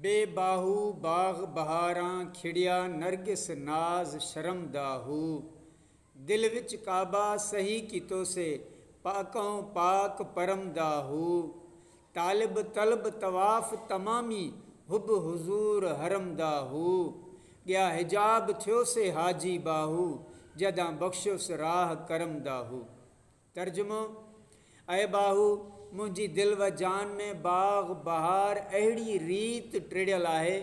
بي باهو باغ بهاران کڙيا نرگس ناز شرم دا هو دل وچ ڪعبه سهي ڪيتو سي پاڪئون پاڪ پرم دا هو طالب طلب طواف تمامي حب حضور حرم دا هو ڳيا حجاب ٿيو سي حاجي باهو جدان بخشيوس راه ڪرم دا هو. ترجمو، اي ٻاهو! منهنجي دل و جان ۾ باغ بهار اهڙيء ريت ٽڙيل آهي،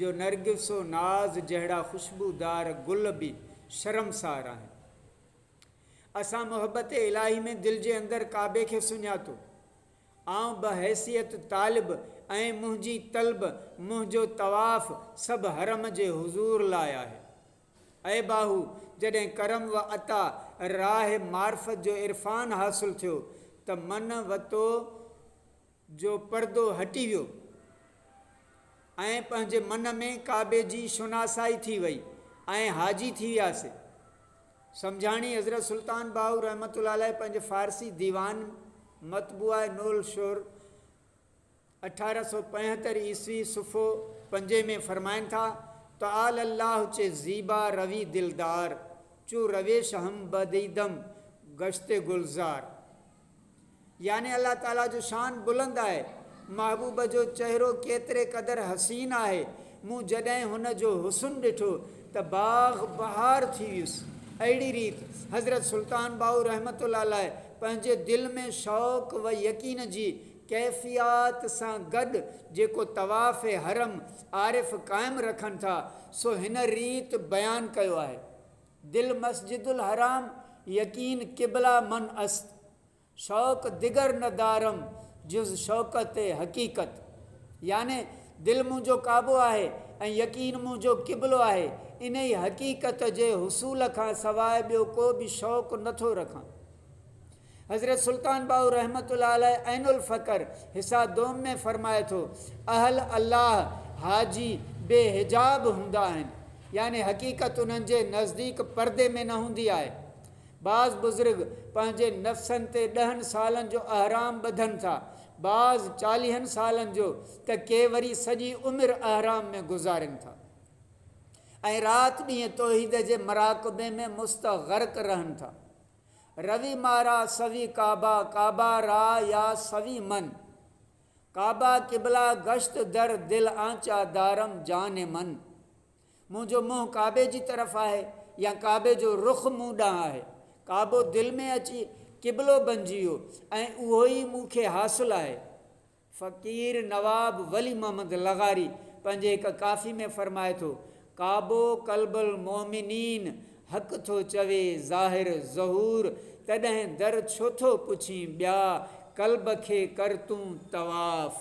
جو نرگس و ناز جهڙا خوشبودار گل به شرمسار آهن. اسان محبت الاهي ۾ دل جي اندر ڪعبي کي سڃاتو. آئون بحيثيت طالب ۽ منهنجي طلب، منهنجو طواف سڀ حرم جي حضور لاء آهي. اي باهو! جڏهن ڪرم و عطا، راهه معرفت جو عرفان حاصل ٿيو ته من و تو جو پردو هٽي ويو ۽ پنهنجي من ۾ ڪعبي جي شناسائي ٿي وئي ۽ حاجي ٿي وياسي. سمجهاڻي، حضرت سلطان باهو رحمة الله عليه پنهنجي فارسي ديوان مطبوعه نور الشعر، اٺارهن سؤ پنجهتر عيسوي صفحو پنجين ۾ فرمائن ٿا، تعالي الله چه زيبا روي دلدار، چو رويش هم بديدم گشت گلزار. يعني الله تعالي جو شان بلند آهي، محبوب جو چهرو ڪيتري قدر حسين آهي، مون جڏهن هن جو حسن ڏٺو ته باغ بهار ٿي ويس. اهڙي ريت حضرت سلطان باهو رحمة الله عليه پنهنجي دل ۾ شوق و يقين جي ڪيفيات سان گڏ جيڪو طواف حرم عارف قائم رکن ٿا سو هن ريت بيان ڪيو آهي، دل مسجد الحرام يقين قبله من است، شوق دگر نه دارم جز شوڪت حقيقت يعني دل منهنجو ڪعبو آهي ۽ يقين منهنجو قبلو آهي انهي حقيقت جي حصول کان سواء ٻيو ڪو به شوق نٿو رکان. حضرت سلطان باهو رحمة الله عليه عين الفقر حصه دوم ۾ فرمائي ٿو، اهل الله حاجي بي حجاب هوندا آهن، يعني حقيقت انهن جي نزديڪ پردي ۾ نه هوندي آهي. بعض بزرگ پنهنجي نفسن تي ڏهن سالن جو احرام ٻڌن ٿا، بعض چاليهن سالن جو ته ڪي وري سڄي عمر احرام ۾ گذارين ٿا ۽ رات ڏينهن توحيد جي مراقبي ۾ مستغرق رهن ٿا. روي مارا سوي ڪعبه ڪعبه را يا سوي من ڪعبه قبله گشت در دل آنچا دارم جان من منهنجو منهن ڪعبي جي طرف آهي يا ڪعبي جو رخ مون ڏانهن آهي ڪعبو دل ۾ اچي قبلو بنجي ويو ۽ اهو ئي مون کي حاصل آهي. فقير نواب ولي محمد لغاري پنهنجي هڪ ڪافي ۾ فرمائي ٿو، ڪعبو قلب المومنين حق ٿو چوي ظاهر ظهور تڏهن در ڇو ٿو پڇين ٻيا قلب کي ڪر تون طواف.